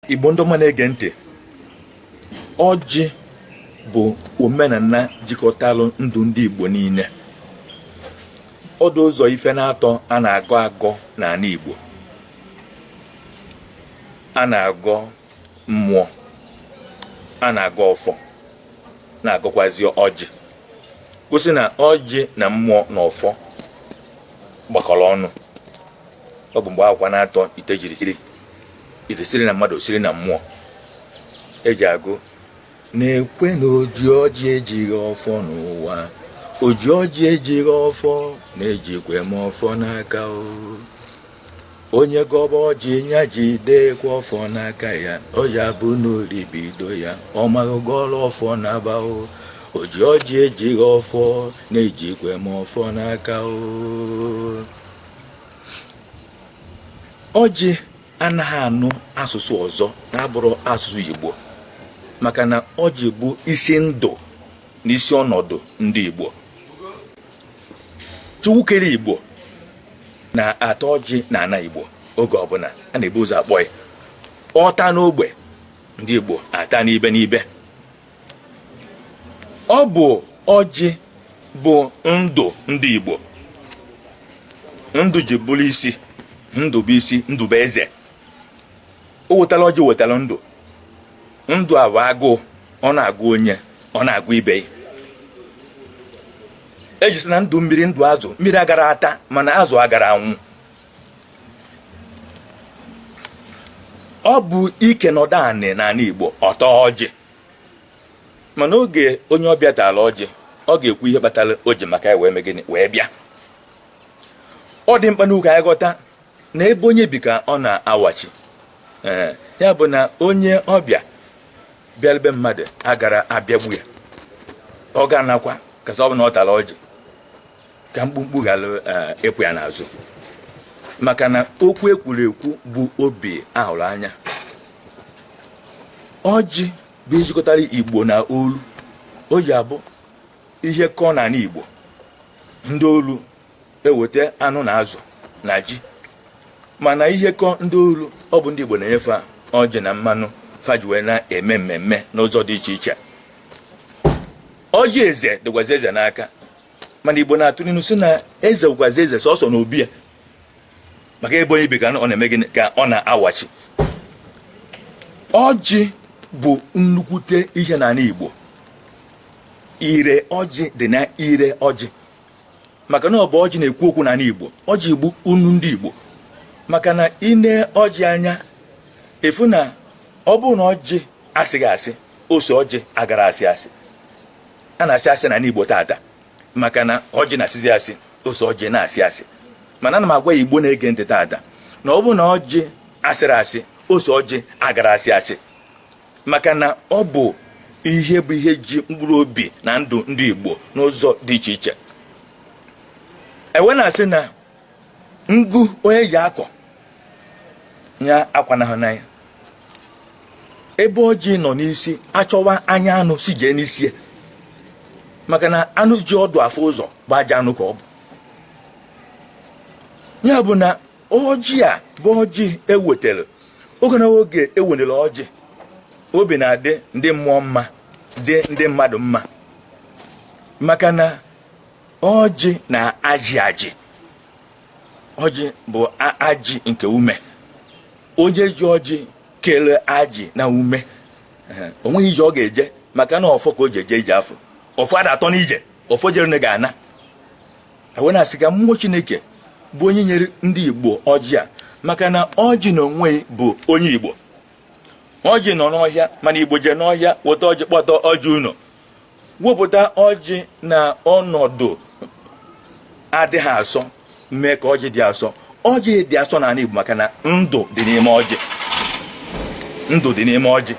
Igbo ndị ọma na-ege ntị ọjị bụ omenana jikọtalụ ndụ ndị Igbo niile ọ dụ ụzọ ife n'atọ a na-agọ agọ n'ana Igbo a na-agọ mmụọ a na-agọ ọfọ na-agọkwazi ọjị kwụsị na ọjị na mmụọ na ọfọ gbakọrọ ọnụ ọ bụ mgbe akwụkwa n'atọ ite jiri ite siri na mmadụ siri na mmụọ e ji agụ n'ukwe na o ji ọjị ji ọfọ n'ụwa o ji ọjị ji ọfọ na ejikwe m ọfọ n'aka onye gọba ọjị nya jidekwa ọfọ n'aka ya ọ ya-abụ na oribido ya ọ maghị gọrọ ọfọ naba o o ji ọjị ji ọfọ na ejikwe m ọfọ n'aka o ọjị anaghị anụ asụsụ ọzọ na-abụrọ asụsụ Igbo maka na ọjị bụ isi ndụ na isi ọnọdụ ndị Igbo Chukwu kere Igbo na-ata ọjị n'ana Igbo oge ọbụla a na-ebu ụzọ akpọ ya ọ taa n'ogbe ndị Igbo ataa n'ibe n'ibe ọ bụ ọjị bụ ndụ ndị Igbo ndụ ji bụrụ isi ndụ bụ isi ndụ bụ eze o wetara ọjị wetara ndụ ndụ a bụ agụụ ọ na-agụ onye ọ na-agụ ibe ya e ji sị na ndụ mmiri ndụ azụ mmiri aghara ata mana azụ aghara anwụ ọ bụ ike nọdụ anị n'anị Igbo ọ taa ọjị ma n'oge onye ọbịa tara ọjị ọ ga-ekwu ihe kpatara o ji maka ya wee mee gịnị wee bịa ọ dị mkpa nnọọ ka anyị ghọta na ebe onye bi ka ọ na-awachi ee ya bụ na onye ọbịa bịara be mmadụ aghara abịagbu ya ọ ga-anakwa kasị ọ bụ na ọ tara ọjị ka mkpumkpu ghara eh, ịpụ ya n'azụ maka na okwu e kwuru ekwu bụ obi a hụrụ anya ọjị bụ ihe jikọtara igbo na olu o ji abụ ihe kọọ n'anị igbo ndị olu eweta anụ na azụ na ji mana ihe kọọ ndị olu ọ bụ ndị igbo na-enyefe ọjị na mmanụ fa ji wee na-eme mmemme n'ụzọ dị iche iche ọjị eze dịkwazi eze n'aka mana igbo na-atụ n'inu sị na eze kazị eze sọsọ n'obi ya maka ebe onye bi ka ọ na-eme gịnị ka ọ na-awachi ọjị bụ nnukwute ihe n'ana igbo ire ọjị dị na ire ọjị maka na ọ bụ ọjị na-ekwu okwu n'ana igbo ọjị igbo unu ndị igbo maka na i nee ọjị anya ị fụ na ọ bụrụ na ọjị asịghị asị ose ọjị agara asị asị a na-asị asị n'ana Igbo taata maka na ọjị na-asịzi asị ose ọjị na-asị asị mana ana m agwa Igbo na-ege ntị taata na ọ bụ na ọjị asịrị asị ose ọjị agara asị asị maka na ọ bụ ihe bụ ihe ji mkpụrụ obi na ndụ ndị Igbo n'ụzọ dị iche iche e wee na-asị na ngu onye ji eko ya akwanahụna ya ebe ọjị nọ n'isi a chọwa anya anụ sị jee n'isi maka na anụ ji ọdụ afụ ụzọ bụ ajọ anụ ka ọ bụ ya bụ na ọjị a bụ ọjị e wetara oge na oge e welere ọjị obi na-adị ndị mmụọ mma dị ndị mmadụ mma maka na ọjị na-ajị ajị ọjị bụ ajị nke ume onye ji ọjị kere ajị n'ume o nwee ije ọ ga-eje maka na ọfọ ka o ji eje ije afụ ọfọ ada atọ n'ije ọfọ jere ga-ana wee na-asị ka mmụọ chineke bụ onye nyere ndị igbo ọjị a maka na ọjị n'onwe ya bụ onye igbo ọjị nọ n'ọhịa mana igbo jee n'ọhịa weta ọjị kpọta ọjị ụnọ wepụta ọjị n'ọnọdụ adịghị asọ mee ka ọjị dị asọ ọjị dị asọ n'ana Igbo maka na ndụ dị n'ime ọjị ndụ dị n'ime ọjị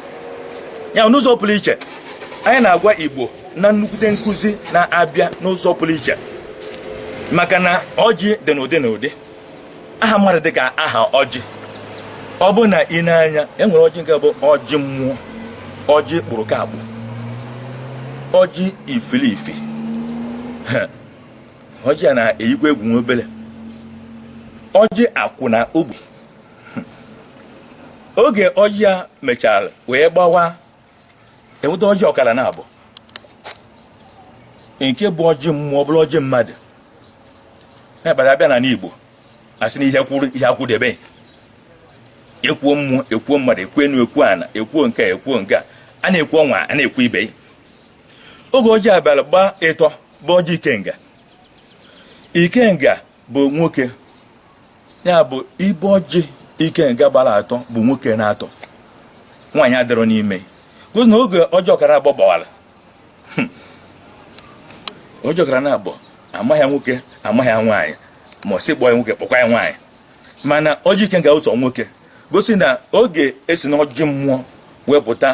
a n'ụzọ pụrụ iche anyị na-agwa Igbo na nnukwute nkụzi na-abịa n'ụzọ pụrụ iche maka na ọjị dị n'ụdị n'ụdị aha mmadụ dị ka aha ọjị ọ bụ na i nee anya e nwere ọjị nke bụ ọjị mmụọ ọjị kpụrụ ka akpụ ọjị ifilifi ọjị a na-eyikwa egwu nwa obele ọjị akwụ na ogbu oge ọjị a mechara wee gbawaa e nweta ọjị ọkara naabọ nke bụ ọjị mmụọ ọ bụrụ ọjị mmadụ na-ekpere a bịa n'ana Igbo a sị na ihe kwụrụ ihe akwụdebe e kwuo mmụọ e kwuo mmadụ e kwuo enu e kwuo ana e kwuo nke a e kwuo nke a a na-ekwu onwe a na-ekwu ibe oge ọjị abịara gbaa ịtọ bụ ọjị ikenga ikenga bụ nwoke ya bụ ibe ọjị ikenga gbara atọ bụ nwoke naatọ nwaanyị adịrọ n'ime gosi na oge ọjị ọkara abụọ gbawara hmm. ọjị gbara na abụọ amaghị ya nwoke amaghị ya nwaanyị ma a sị kpọọ ya nwoke kpọkwa ya nwaanyị mana ọjị ikenga ụzọ nwoke gosi na oge e si n'ọjị mmụọ wepụta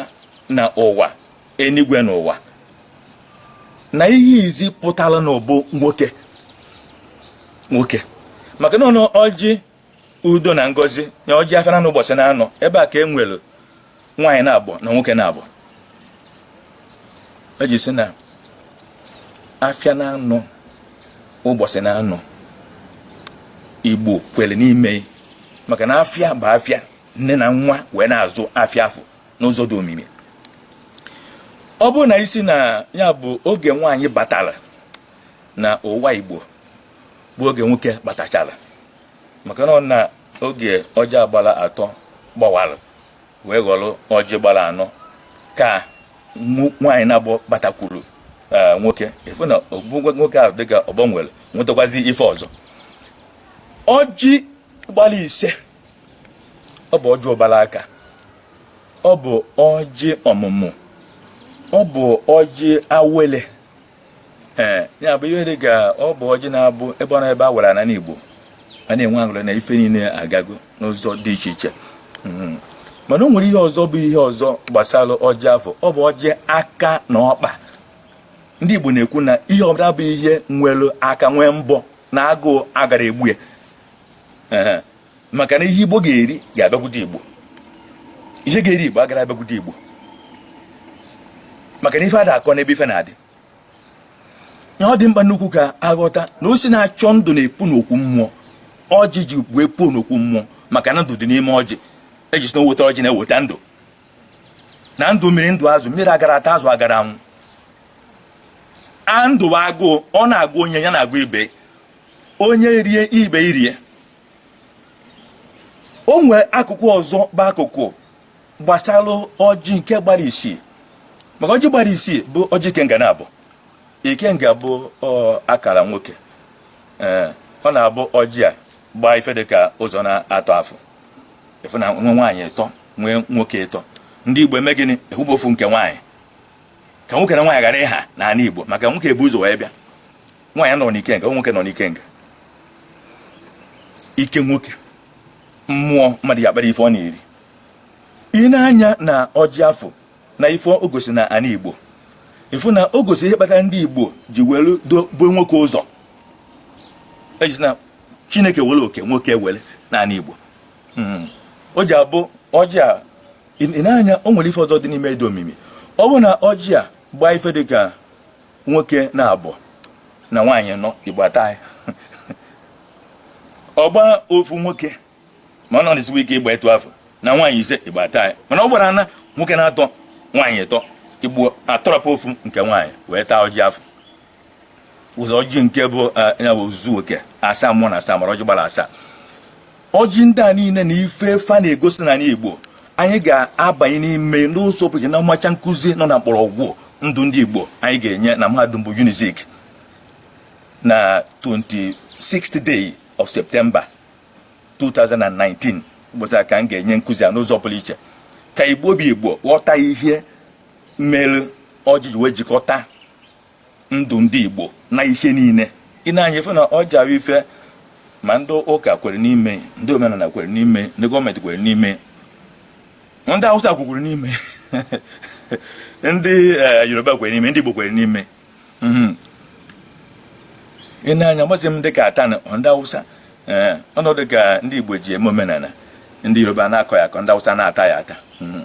na ụwa enigwe na ụwa na ihe izi pụtara na ọ bụ nwoke nwoke maka na ọjị udo na ngozi nye ọjị afịa na anọ ụbọchị na anọ ebe a ka e nwere nwaanyị na-abọ na nwoke na-abọ e ji sị na afịa na anọ ụbọchị na anọ igbo kwere n'ime maka na afịa bụ afịa nne na nwa wee na-azụ afịa afọ n'ụzọ dị omimi ọ bụrụ na ị sị na ya bụ oge nwaanyị batara na ụwa igbo bụ oge nwoke batachara maka na ọ na oge ọjị a gbara atọ gbanwara wee ghọrọ ọjị gbara anọ ka mụ- nwaanyị na-abọ batakwuru eh, nwoke efu na ofu nwoke ahụ dịka ọgbọ nwere nwetakwazi ife ọzọ ọjị gbara ise ọ bụ ọjị ụbara aka ọ bụ ọjị ọmụmụ ọ bụ ọjị awele ee eh, ya bụ ihe dị ka ọ bụ ọjị na-abụ ebe ọ na ebe a wara na n'Igbo a na-enwe aṅụrị na ife niile agago n'ụzọ dị iche iche hmm. mana o nwere ihe ọzọ bụ ihe ọzọ gbasara ọjị afụ ọ bụ ọjị aka na ọkpa ndị Igbo na-ekwu na ihe ọbụla bụ ihe nwere aka nwee mbọ na agụụ agara egbu ya maka na ihe igbo ga-eri ga-abịakwute igbo ihe ga-eri igbo agara abịakwute igbo maka na ife ada akọ n'ebe ife na-adị na ọ dị mkpa nnukwu ka a ghọta na osi na-achọ ndụ na-epu n'okwu mmụọ ọjị ji bụ epu n'okwu mmụọ maka na ndụ dị n'ime ọjị e ji sị na o weta ọjị na-eweta ndụ na ndụ mmiri ndụ azụ mmiri agara ata azụ agara anwụ a ndụ agụụ ọ na-agụ onye ya na-agụ ibe onye rie ibe erie o nwee akụkụ ọzọ bụ akụkụ gbasara ọjị nke gbara isii maka ọjị gbara isii bụ ọjị ikenga na-abọ ikenga bụ akara nwoke ee ọ na-abụ ọjị a gbaa ife dị ka ụzọ na-atọ afọ efu na nwe nwaanyị ịtọ nwee nwoke ịtọ ndị igbo eme gịnị efopụ ofu nke nwaanyị ka nwoke na nwaanyị ghara ịha n'ala igbo maka nwoke ebu ụzọ wee bịa nwaanyị nọ n'ikenga nwoke nọ n'ikenga ike nwoke mmụọ mmadụ ji akpata ife ọ na-eri i nee anya na ọjị afụ na ife o gosi na ana igbo ị fụ na o gosi ihe kpatara ndị igbo ji welu dobe nwoke ụzọ ejizi na chineke were oke nwoke were na ana igbo hmm. o ji abụ ọjị a i nee anya o nwere ife ọzọ dị n'ime ya dị omimi ọ bụ na ọjị a gbaa ife dịka nwoke naabọ na nwaanyị ịnọ igbo ataghị ọ gbaa ofu nwoke ma ọ na-esikwa ike ịgba etu afụ na nwaanyị ise igbo ataghị mana ọ gbara na nwoke naatọ nwaanyị ịtọ igbo atọrọpụ ofu nke nwaanyị wee taa ọjị afụ ụzọ ọjị nke bụ eh, ya bụ ozuzu oke asaa mmụọ na asaa mmadụ ọjị gbara asaa ọjị ndị a niile na ife fa na-egosi n'ana Igbo anyị ga-abanye n'ime ya n'ụzọ pụrụ iche na mmacha nkụzi nọ na mkpọrọgwụ ndụ ndị Igbo anyị ga-enye na mahadum bụ Unizik na 26th day of September 2019 ụbọchị a ka m ga-enye nkụzi a n'ụzọ pụrụ iche ka Igbo bụ Igbo ghọta ihe mere ọjị ji wee jikọta ndụ ndị Igbo na ihe niile i nee anya ị fụ na ọ jara ife ma ndị ụka kwere n'ime ndị omenala kwere n'ime ndị gọọmenti kwere n'ime ndị Hausa kwekwuru n'ime ndị eh, Yoruba kwere n'ime ndị Igbo kwere n'ime mhm. i nee anya mmasị m dịka atan ndị Hausa eh, ọnọdụ ka ndị Igbo ji eme omenala ndị Yoruba na-akọ ya akọ ndị Hausa na-ata ya ata mhm.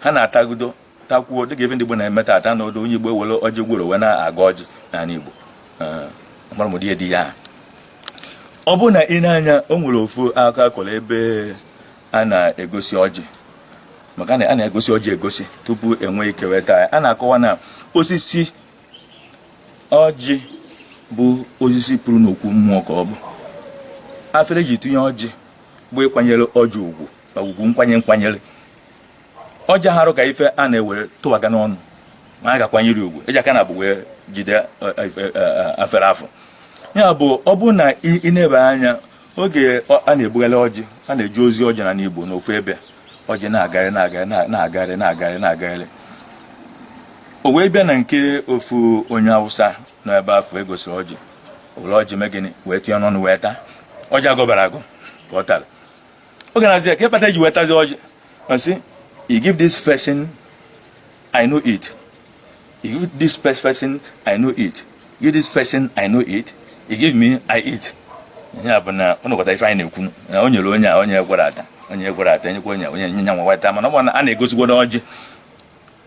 ha na-atagudo takwuo dịka ife ndị Igbo na-eme taata na odo onye Igbo ewere ọjị gworo wee na-agọ ọjị n'ala Igbo mgbaramụdị ya di ya ọ bụ na i nee anya o nwere ofu akụkọ a kọrọ ebe a na-egosi ọjị maka na a na-egosi ọjị egosi tupu e nwee ike wee taa a na-akọwa na osisi ọjị bụ osisi puru n'okwu mmụọ ka ọ bụ afere e ji tinye ọjị bụ ịkwanyere ọjị ugwu na ugwu nkwanye nkwanyere ọjị aharọ ka ife a na-ewere tụwaga n'ọnụ ma a ga-akwanyere ugwu e ji aka naabọ wee jide e, e, e, afere afụ ya bụ ọ bụrụ na i nebe anya oge a na-ebugharị ọjị a na-eje ozi ọjị na n'Igbo n'ofu ebe ọjị na-agagharị na-agagharị na-agagharị na-agagharị na-agagharị o wee bịa na nke ofu onye awụsa nọ ebe afụ e gosiri ọjị o were ọjị mee gịnị wee tinye n'ọnụ wee taa ọjị a gọbarọ agọ ka ọ tara oge a na-asị ya ka ife kpata i ji wee tazi ọjị ọ sị you give this person i no eat you give this person i no eat give this person i no eat you give me i eat ihe a bụ na ọ nọkọta ife anyị na-ekwu na o nyere onye a onye ghara ịta onye ghara ịta nyekwa onye onye nye nya nwa wee taa mana ọ bụ na a na-egosigodu ọjị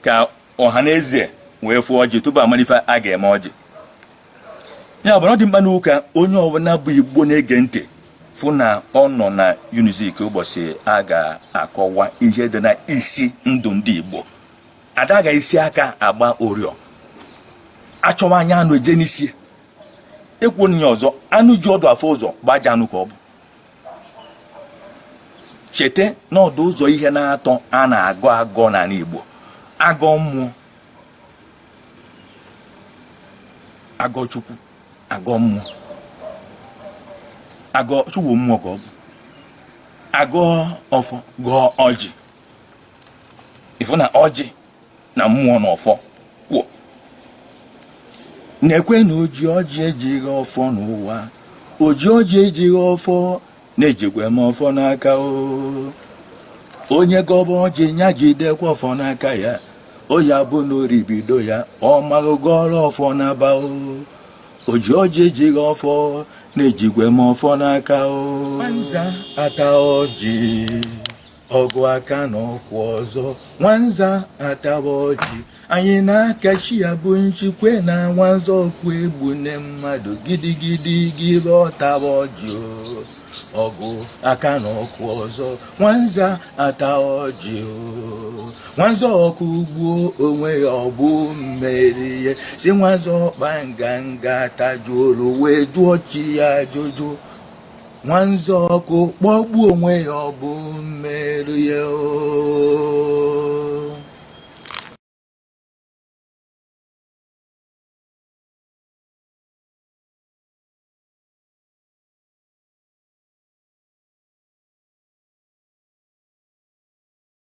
ka ọha na eze wee fụọ ọjị tupu amalụ ife a ga-eme ọjị ya abụrụ ọ dị mkpa n'ụka onye ọbụla bụ igbo na-ege ntị fụ na ọ nọ na unizik ụbọchị a ga-akọwa ihe dị na isi ndụ ndị igbo a da-agha isi aka agba ọrịọ achọwa anya anụ eje n'isi ekwuo ya ọzọ anụ ji ọdụ afụ ụzọ gbaja anụ ka ọ bụ cheta na ọ dị ụzọ ihe n'atọ a na-agọ agọ n'ala Igbo a gọọ mmụọ a gọọ chukwu a gọọ mmụọ a gọọ chukwu mmụọ ka ọ bụ a gọọ ọfọ gọọ ọjị ị fụ na ọjị na mmụọ na ọfọ kwụ na-ekwe na oji ọjị ejighị ọfọ n'ụwa oji ọjị ejighị ọfọ na-ejikwa m ọfọ n'aka o onye gọba ọjị ya jidekwa ọfọ n'aka ya o ya bụ na ori bido ya ọ maghị ghọrọ ọfọ naba o oji ọjị ejighị ọfọ na-ejikwa m ọfọ n'aka o ata ọjị ọgụ aka na ọkụ ọzọ nwanza ataba ọjị anyị na-akachi ya bụ nchikwe na nwanza ọkụ egbu nne mmadụ gidigidi gịbe ọ taba ọjị o. ọgụ aka na ọkụ ọzọ nwanza ata ọjị o. nwanza ọkụ gbuo onwe ya ọ bụ mmeri ya si nwanza ọkpa nganga tajuolu wee jụọ chi ya ajụjụ nwanza ọkụ kpọgbuo onwe ya ọ bụ mmerụ ya oo.